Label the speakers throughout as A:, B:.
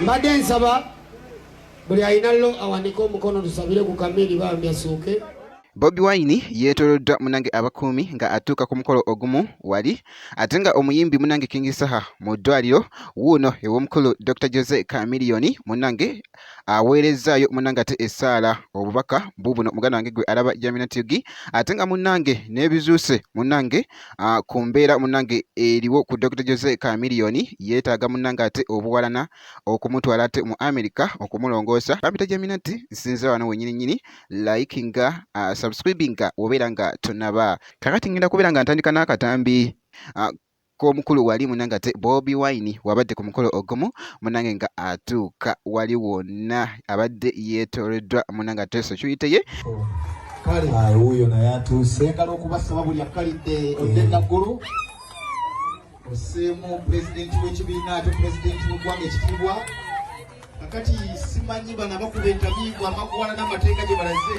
A: mbadde nsaba buli alina lo awanike omukono tusabire ku kamiri bambi asuuke bobi wine
B: yeetoloddwa munange abakuumi nga atuuka ku mukolo ogumu wali ate nga omuyimbi munange king saha mu ddwaliro wuuno ew'omukulu dr jose camiliyoni munange aweerezzaayo munange ate essaala obubaka bubuno muganda wange gwe alaba jamina tv ate nga munange n'ebizuuse munange ku mbeera munange eriwo ku dr jose kamiliyoni yeetaaga munange ate obuwalana okumutwala ate mu america okumulongoosa kampita jamina ti nsinzira wano wenyini nyini like nga subscribinga obeera nga tonaba kakati ngenda kubeera nga ntandika n'akatambi ko omukulu wali munange ate bobi wine wabadde ku mukolo ogumu munange nga atuuka wali wonna abadde yeetoreddwa munange ate security ye kale
C: wuuyo naye atuuse ngala okubasaba buli akkalidde odde eh. naggulu oseemu pulezidenti w'ekibiina ate pulezidenti w'eggwanga ekitiibwa kakati simanyi bana bakuba entabiibwa amakuwala n'amateeka gye balaze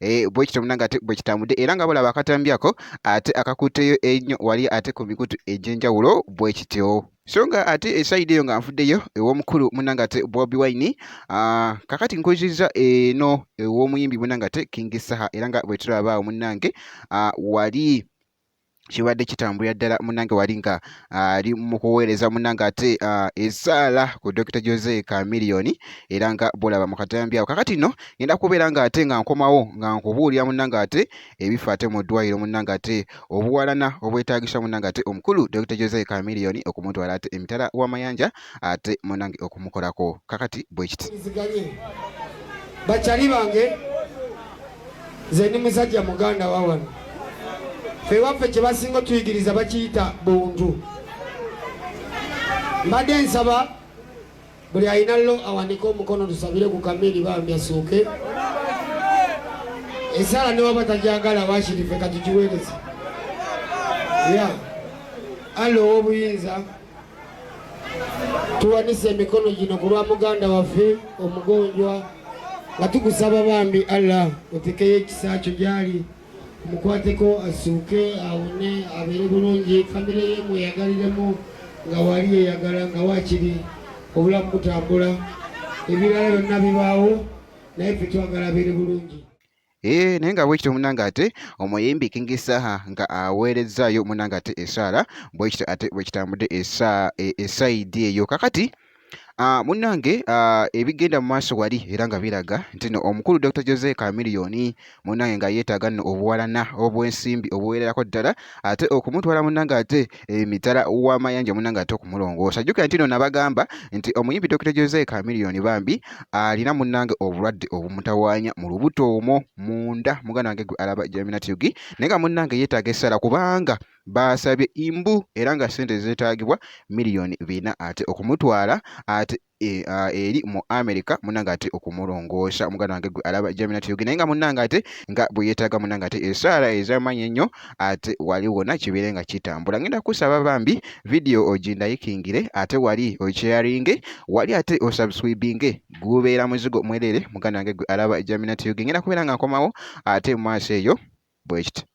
B: eh, bwe kityo munange ate bwe kitambudde era nga bolaba akatambyako ate akakuuteyo ennyo wali ate ku mikutu egy'enjawulo bwe kityo so nga ate esayidi eyo nga nfuddeyo ew'omukulu munange ate bobi wine ah, kakati nkuzizza eno ew'omuyimbi munange ate king saha era nga bwe tulabaawo munange ah, wali kibadde kitambulira ddala munange wali nga ah, ali mu kuweereza munange ate ah, esaala ku Dokita Jose Chameleone era nga bolaba mu katambi awo kakati no ngenda kubeera nga ate nga nkomawo nga nkubuulira munange ate ebifa ate mu ddwaliro munange ate obuwalana obwetaagisa munange ate omukulu Dokita Jose Chameleone okumutwala ate emitala w'amayanja ate munange okumukolako kakati bwekiti bakyali
A: bange nze ndi musajja muganda wa wano fe waffe kye basinga otuyigiriza bakiyita buntu mbadde nsaba buli alina lo awandike omukono tusabire ku kamiri bambi asuuke esaala newaba tajagala wakirife katugiweereza ya allo ow'obuyinza tuwanise emikono gino ku lwa muganda waffe omugonjwa nga tugusaba bambi allah otekeyo ekisa kyo gyali mukwateko asuuke awone abeere bulungi famire ye mweyagaliremu nga wali yeyagala nga wakiri obulamu butambula ebirala byonna bibaawo naye ffe twagala abeere bulungi Eee eh, naye nga
B: bwekityo munange ate omuyimbi King Saha nga aweerezzaayo munange ate esaala bwekityo ate bwekitambudde esaidi e, eyo kakati Uh, munnange uh, ebigenda mu maaso wali era nga biraga nti no omukulu Dr. Jose Chameleone munnange nga yeetaaga nno obuwalana obw'ensimbi obuweererako ddala ate okumutwala munnange ate emitala eh, w'amayanja munange ate okumulongoosa jjukira nti no nabagamba nti omuyimbi dokita jose kamiliyoni bambi alina munange obulwadde obumutawaanya mu lubuto omwo munda muganda wange gwe alaba jaminatyugi naye nga munange yeetaaga essala kubanga baasabye imbu era nga ssente zeetaagibwa miliyoni bina ate okumutwala ate E, ah, eri mu america munange ate okumulongoosa omuganda wange gwe alaba jamina teyoge naye nga munange ate nga bweyetaaga munange ate esaala ezamaanyi ennyo ate wali wona kibeere nga kitambula ngenda kusaba bambi vidiyo ogindayikingire ate wali okyaringe wali ate osubscribinge gubeera muzigo mwerere muganda wange gwe alaba jamina teyoge ngenda kubeera nga nkomawo ate mu maaso eyo bwekiti